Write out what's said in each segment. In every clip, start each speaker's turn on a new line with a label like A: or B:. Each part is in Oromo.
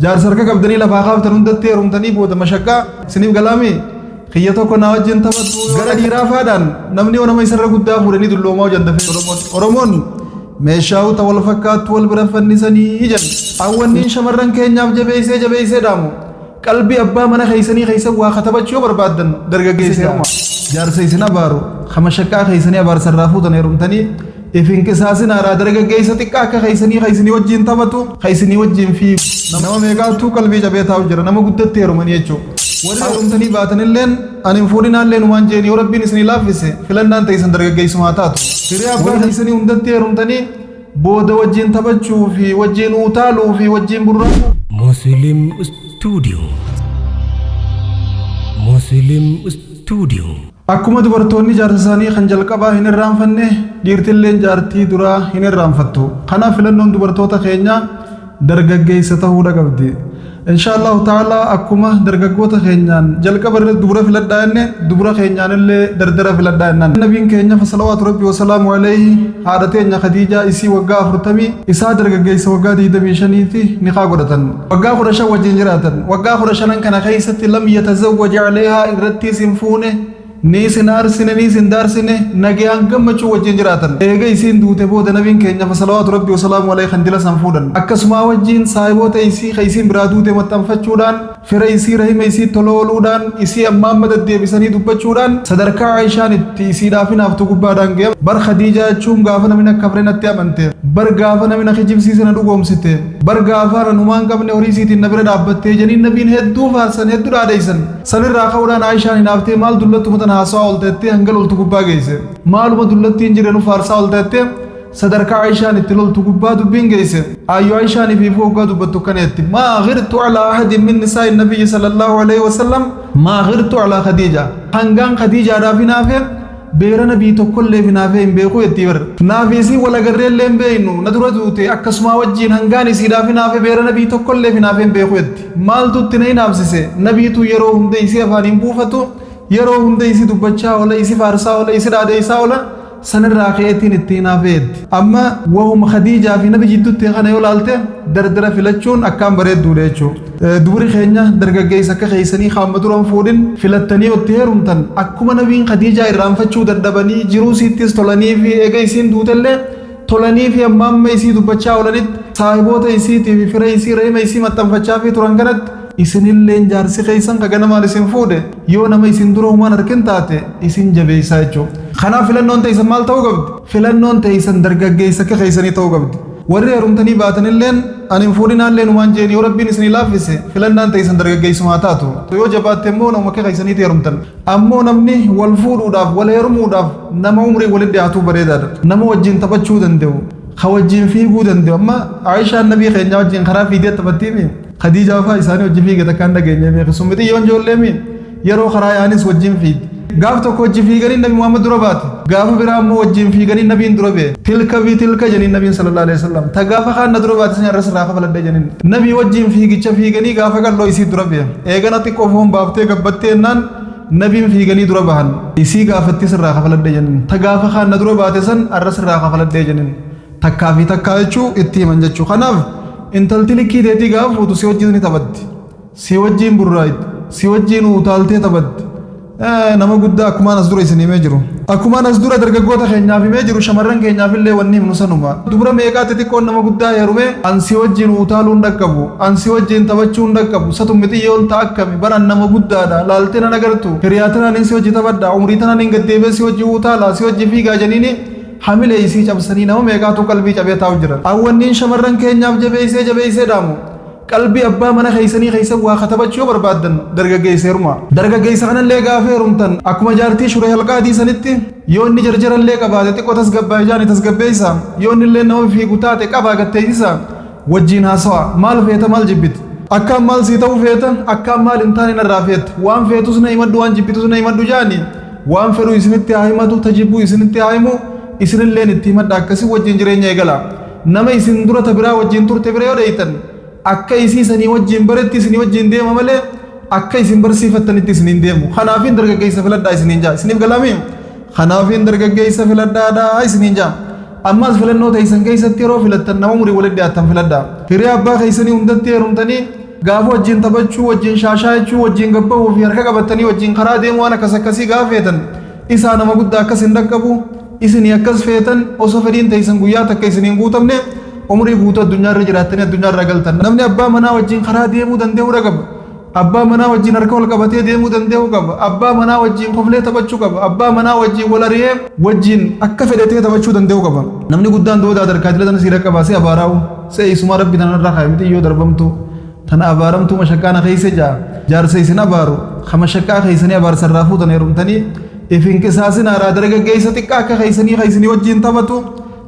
A: Jaarsa harka qabdanii lafaa kaaftan hundatti heerumtanii booda mashaqqaa isiniif galaamee kiyya tokko naa wajjin taphatu gara dhiiraa faadhaan namni yoo nama isarra guddaa fuudhanii dulloomaa hojjan dafee Oromoon Oromoon meeshaa uta wal fakkaattu wal bira fannisanii jedhan hawwanniin shamarran keenyaaf jabeessee jabeessee dhaamu qalbii abbaa mana keessanii keessa waa katabachuu yoo barbaaddan dargaggeessa heeruma jaarsa isin abaaru kama shaqqaa keessanii abaarsarraa fuutan heerumtanii If hin qisaasinaaraa dargaggeessa xiqqaa akka keessanii ka isinii wajjiin taphatu, ka isinii wajjiin fiigu. Nama meeqaattuu qalbii cabee taa'u jira, nama guddatti heerumanii jechuun. Warri heerumtanii baatanilleen, ani hin fuudhinaallee numaan je'een, yoo Rabbiin isinii laaffise, filannaan teeysan dargaggeessuma haa taatu. Hiree abbaa keessanii hundatti heerumtanii, booda wajjiin taphachuu fi wajjiin uutaaluu fi wajjiin burraaquu. Muslim
B: Studio Muslim Studio Akkuma dubartoonni
A: jaarsa isaanii kan jalqabaa hin irraanfanne, dhiirtilleen jaartii duraa hin irraanfattu. Kanaaf filannoon dubartoota keenyaa dargaggeessa tahuudha qabdi. Inshaa Allaahu ta'aalaa akkuma dargaggoota keenyaan jalqaba irra dubra filadhaa jenne, dubra keenyaan illee dardara filadhaa jennaan. Nabiin keenya salawaatu Rabbii wa salaamu aleyhi haadha teenya Khadiijaa isii waggaa afurtamii, isaa dargaggeessa waggaa digdamii shaniiti nikaa godhatan. waggaa kudha shan wajjin jiraatan waggaa kudha shanan kana keessatti lam yatazawwaj aleehaa irrattiis hin fuune niis hin aarsine niis hin daarsine nagayaan gammachuu wajjin jiraatan eega isiin duute booda nabiin keenya salawaatu rabbi wasalaamu alayhi kan dila san fuudhan akkasumaa wajjin saahiboota isii ka isiin biraa duute maxxanfachuudhaan fira isii rahima isii tola ooluudhaan isii ammaan madaddeebisanii dubbachuudhaan sadarkaa aishaan itti isiidhaaf hinaaftu gubbaadhaan ga'e bar khadiijaa jechuun gaafa namni akka frenatti amanteef bar gaafa namni kijibsiise na dhugoomsiteef bar gaafaan an humaan qabne horii siitiin na bira dhaabbattee janiin nabiin hedduu faarsan hedduu dhaadheessan sanirraa ka'uudhaan aayishaan hinaaftee maal dullattuma tana haasawaa olta jettee hanga loltu gubbaa geesse maaluma dullattiin jirre nu faarsaa olta jettee sadarkaa aayishaan itti loltu gubbaa dubbiin geesse aayyo aayishaanii fi ifuu hoggaa dubbattu akkana jetti maa ghirtu alaa ahadin min nisaa'i nabiyyi sallallahu alaihi wasallam maa ghirtu alaa khadiija hangaan khadiijaadhaaf hinaafee Beera nabii tokkolleef hinaafee hin beeku jettii bar. Naafi isiin wal agarreellee hin beeynu, na dura duute, akkasumaa wajjiin hangaan isiidhaaf hinaafe beera nabii tokkolleef hinaafee hin beeku jetti. Maaltu itti na hinaafsise? Nabiitu yeroo hunda isii afaan hin buufatu, yeroo hunda isii dubbachaa oola, isi faarsaa oola, isi dhaadheeysaa oola, sanirraa ka'eetiin itti hinaafe jetti. Amma wahuma Khadiijaa fi nabi jiddutti ta'e kana yoo laalte, dardara filachuun akkaan bareedduudha jechuudha. Dubri keenya dargaggeessa akka keessanii ka amma duran fuudhin filattanii yoo itti heerumtan akkuma nabiin Khadiijaa irraanfachuu dadhabanii jiruu isiittis tolaniifi ega isiin duutellee tolaniifi amma amma isii dubbachaa oolanitti saahiboota isiitiifi fira isii rahima isii maxxanfachaafii turan kanatti isinilleen jaarsi keessan ka ganamaan isin fuudhe yoo nama isin dura humaan arkin taate isin jabeessaa jechuudha. Kanaaf filannoon teessan maal ta'uu qabdi? Filannoon teeysan dargaggeeysa akka keeysanii ta'uu qabdi. Warri heerumtanii baatanilleen ani hin fuudhinaallee numaan je'in yoo Rabbiin isinii laaffise filannaan teeysan dargaggeeysuma haa taatu. Tu yoo jabaatte immoo namuma akka keeysaniitii heerumtan. Ammoo namni wal fuudhuudhaaf, wal heerumuudhaaf nama umriin walitti dhiyaatuu bareedaadha. Nama wajjiin taphachuu dande'u. Ka wajjiin fiiguu dande'u. Amma Aa'ishaan Nabii keenyaa wajjiin karaa fiigdee taphattiimii? Khadiijaa faa isaanii wajji fiigde takkaa hin dhageenyee beeki. Sun mixiyyoon joolleemii? Yeroo karaa yaa'anis wajjin fiigdi. Gaaf tokko wajji fiiganii Nabi Muhammad dura baate. Gaafa biraa immoo wajjin fiiganii Nabiin dura ba'e. Tilka fi tilka jedhaniin Nabiin sallallahu aleyhi wa sallam. Ta gaafa kaan na dura baate san irras irraa kafaladhe jedhaniin. Nabii wajjin fiigicha fiiganii gaafa qal'oo isii dura ba'e. Eegana xiqqoo foon baaftee gabbattee ennaan Nabiin fiiganii dura bahan. Isii gaafattis irraa kafaladhe jedhaniin. Ta gaafa kaan na dura baate san irras irraa kafaladhe jedhaniin. Takkaa fi takkaa jechuu itti himan jechuu. Kanaaf intalti likkii teetii gaafa fuutu si wajjin ni taphatti. Si wajjiin burraayxi. Si wajjiin utaaltee taphatti. Ee, nama guddaa akkumaan as dura isin himee jiru. Akkumaan as dura dargaggoota keenyaaf himee jiru shamarran keenyaaf illee wanni himnu sanuma. Dubra meeqaa xixiqqoon nama guddaa heerumee an si wajjiin utaaluu hin dhaqqabu, an si wajjiin taphachuu hin dhaqqabu, satu mixiyyoon ta akkami, bar an nama guddaadha, laaltee nan agartu, hiriyaa tanaanin si wajji taphadha, umrii tanaanin gad deebi'ee si wajji utaala, si wajji fiigaa janiini hamilee isii cabsanii nama meeqaatu qalbii cabee taa'u jiran. An wanniin shamarran keenyaaf jabeessee jabeessee dhaamu Qalbii abbaa mana keessanii keessa waa katabachuu yoo barbaaddan dargaggeessa heerumaa. Dargaggeessa kanallee gaafa heerumtan akkuma jaartii shuree halqaadii sanitti yoo inni jarjarallee qabaate xiqqoo tasgabbaa'e jaani tasgabbeessa yoo inni illee nama fiigu taate qabaa gatteessisa wajjiin haasawa maal feeta maal jibbita. Akkaan maal sii ta'uu feeta akkaan maal hin taane narraa feeta waan feetus na himadhu waan jibbitus na himadhu jaani waan fedhu isinitti haa himatu ta jibbuu isinitti haa himu isinilleen itti himadha akkasii wajjiin jireenya eegala. Nama isin dura ta biraa wajjiin turte bira yoo dheyxan, akka isii sanii wajjiin baretti isinii wajjiin deema malee, akka isin barsiifattanitti isiniin hin deemu. Kanaafiin dargaggeeysa filadhaa isiniin ja'a. Isiniif galaamii? Kanaafiin dargaggeeysa filadhaadhaa isiniin ja'a. Ammaas filannoo teeysan keeysatti yeroo filattan nama umriin walitti dhiyaattan filadhaa. Hiriyaa abbaa keeysanii hundatti heerumtanii, gaafa wajjiin taphachuu, wajjiin shaashaayachuu, wajjiin gad bahuu fi harka qabattanii wajjiin karaa deemuu waan akkas akkasii gaafa feetan, isaa nama guddaa akkas hin dhaqqabu. Isinii akkas feetan osoo fedhiin teeysan guyyaa takka isinii hin guutamne umrii guutuu addunyaa irra jiraattanii addunyaa irraa galtan. Namni abbaa manaa wajjiin karaa deemuu dandeehu dha qaba. Abbaa manaa wajjiin harka wal qabatee deemuu dandeehu qaba. Abbaa manaa wajjiin koflee taphachuu qaba. Abbaa manaa wajjiin wal ariyee wajjiin akka fedhe ta'ee taphachuu dandeehu qaba. Namni guddaan du'oo daadarkaa idila tana sii dhaqqabaa si abaaraa'uu se'e isumaa Rabbi tana narraa kaaye mitii yoo darbamtuu. Tana abaaramtuu mashakkaana keessa jaa jaarsa isin abaaru ka mashakkaa keessanii abaarsa irraa fuutan heerumtanii if hin qisaasinaaraa dargaggeessa xiqqaa akka keessanii ka isinii wajjin taphatu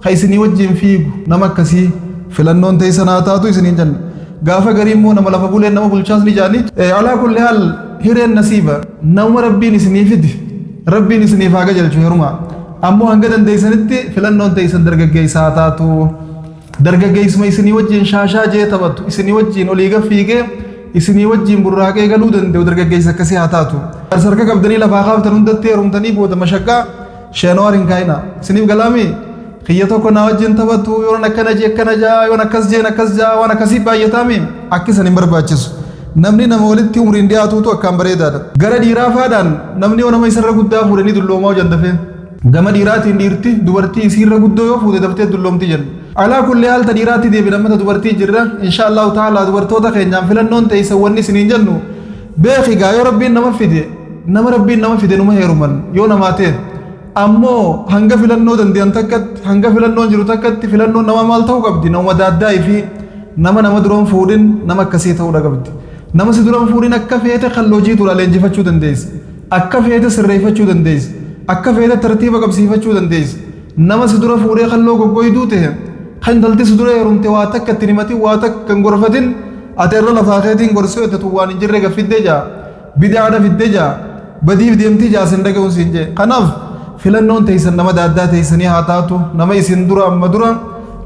A: ka isinii wajjin fiigu nama akkasii filannoon ta'e sanaa taatu isiniin jenna. Gaafa garii immoo nama lafa buleen nama bulchaas ni jaanii. Alaa kulli haal hireen nasiiba nama rabbiin isinii fidi rabbiin isiniif haa gajalchu heerumaa. Ammoo hanga dandeessanitti filannoon ta'e isin dargaggeessaa taatu. Dargaggeessuma isinii wajjin shaashaa jee taphatu, isinii wajjin olii gad fiigee, isinii wajjin burraaqee galuu danda'u dargaggeessa akkasii haa taatu. Jaarsa harka qabdanii lafaa kaaftan hundatti heerumtanii booda mashaqaa sheenawaar hin kaa'ina. Isiniif galaamii? Kiyya tokko naa wajjin taphatu, yoon akkana jee akkana ja'a, yoon akkas jeen akkas ja'a, waan akkasii baay'ataami. Akki isan hin barbaachisu. Namni nama walitti umriin dhiyaatuutu akkaan bareedaadha. Gara dhiiraa faadhaan namni yoo nama isarra guddaa fuudhe ni dulloomaa hojandafee. Gama dhiiraatiin dhiirti dubartii isiirra guddoo yoo fuute daftee dulloomti jenna. Alaa kulli haal ta dhiiraatti deebina amma ta dubartii jirra. Inshaa Allaahu ta'aalaa dubartoota keenyaan filannoon teessan wanni isiniin jennu beeki gaa yoo Rabbiin nama fide nama Rabbiin nama fide numa heeruman yoo namaa ta'e ammoo hanga filannoo dandeyan takkatti hanga filannoon jiru takkatti filannoon namaa maal ta'uu qabdi namuma daaddaa ifii nama nama duran fuudhin nama akkasii ta'uudha qabdi. Nama si duran fuudhin akka feete kan loojii turaa leenjifachuu dandeessa. Akka feete sirreeffachuu dandeessa. Akka feete tartiiba qabsiifachuu dandeessa. Nama si dura fuudhee kalloo goggoyduu tahe, ka intalti si dura heerumte waa takka itti hin himatin, waa takka hin gorfatin, ati irra lafaa keetiin gorsi yoo jette tun waan hin jirre gad fidde ja'a. Bid'aadha fidde ja'a. Badiif deemti ja'a sin dhagayun siin je'e. Kanaaf filannoon teeysan nama daaddaa teeysanii haa taatu. Nama isin dura amma dura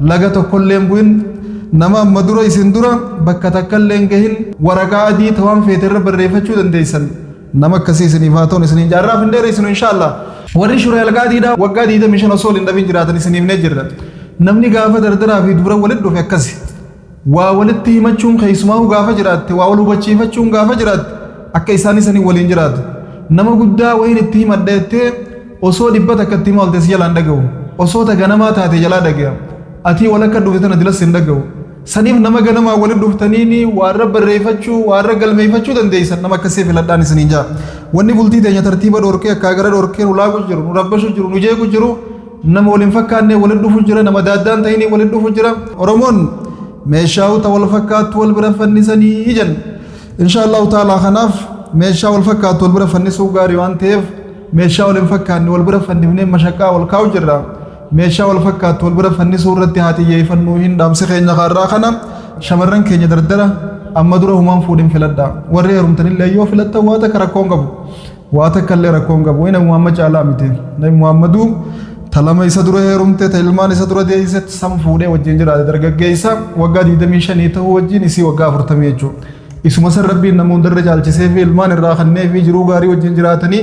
A: laga tokkollee hin bu'in. Nama amma dura isin dura bakka takkallee hin gahin. Waraqaa adii ta waan feete irra barreeffachuu dandeeysan. Nama akkasii isiniif haa ta'u isiniin jaarraaf hin dheereessinu inshaallah. Warri shuree algaa diidaa waggaa 25 osoo wal hin dhabin jiraatan isin himnee jirra. Namni gaafa dardaraa fi dubra walit dhufe akkasi. Waa walitti himachuun keessumaahuu gaafa jiraatte waa wal hubachiifachuun gaafa jiraatte akka isaan isanii waliin jiraatu. Nama guddaa wayiin itti himadha jettee osoo dhibba takka itti hima olte si jalaa hin dhagahu. Osoo ta ganamaa taate jalaa dhagaya. Atii walakka dhufte tana dilas hin dhagahu. Saniif nama ganamaan walitti dhuftaniini waarra barreeffachuu, waarra galmeeffachuu dandeessan nama akkasii filadhaan isiniin jaa. Wanni bultii teenya tartiiba dhorkee akkaa gara dhorkee nu laaqu jiru, nu rabbashu jiru, nu jeequ jiru nama wal hin fakkaannee walitti dhufu jira, nama daaddaan ta'inii walitti dhufu jira. Oromoon meeshaa uta wal fakkaattu wal bira fannisanii jenna. Inshaa Allahu ta'ala kanaaf meeshaa wal fakkaattu wal bira fannisuu gaarii waan ta'eef meeshaa wal hin fakkaanne wal bira fannifnee mashaqqaa wal kaa'u jirra. Meeshaa wal fakkaattu wal bira fannisuu irratti haa xiyyeeffannuu hin dhaamsi keenya kaarraa kana shamarran keenya dardara amma dura humaan fuudhin filadha warri heerumtanillee yoo filattan waa takka rakkoon qabu waa takka illee rakkoon qabu inni muhammad caalaa miti nabi muhammaduu talama isa dura heerumte ta ilmaan isa dura deeyse san fuudhee wajjin jiraate dargaggeessa waggaa 25 ta'uu wajjin isii waggaa 40 jechuudha isuma san rabbiin nama hundarra caalchisee fi ilmaan irraa kannee fi jiruu gaarii wajjin jiraatanii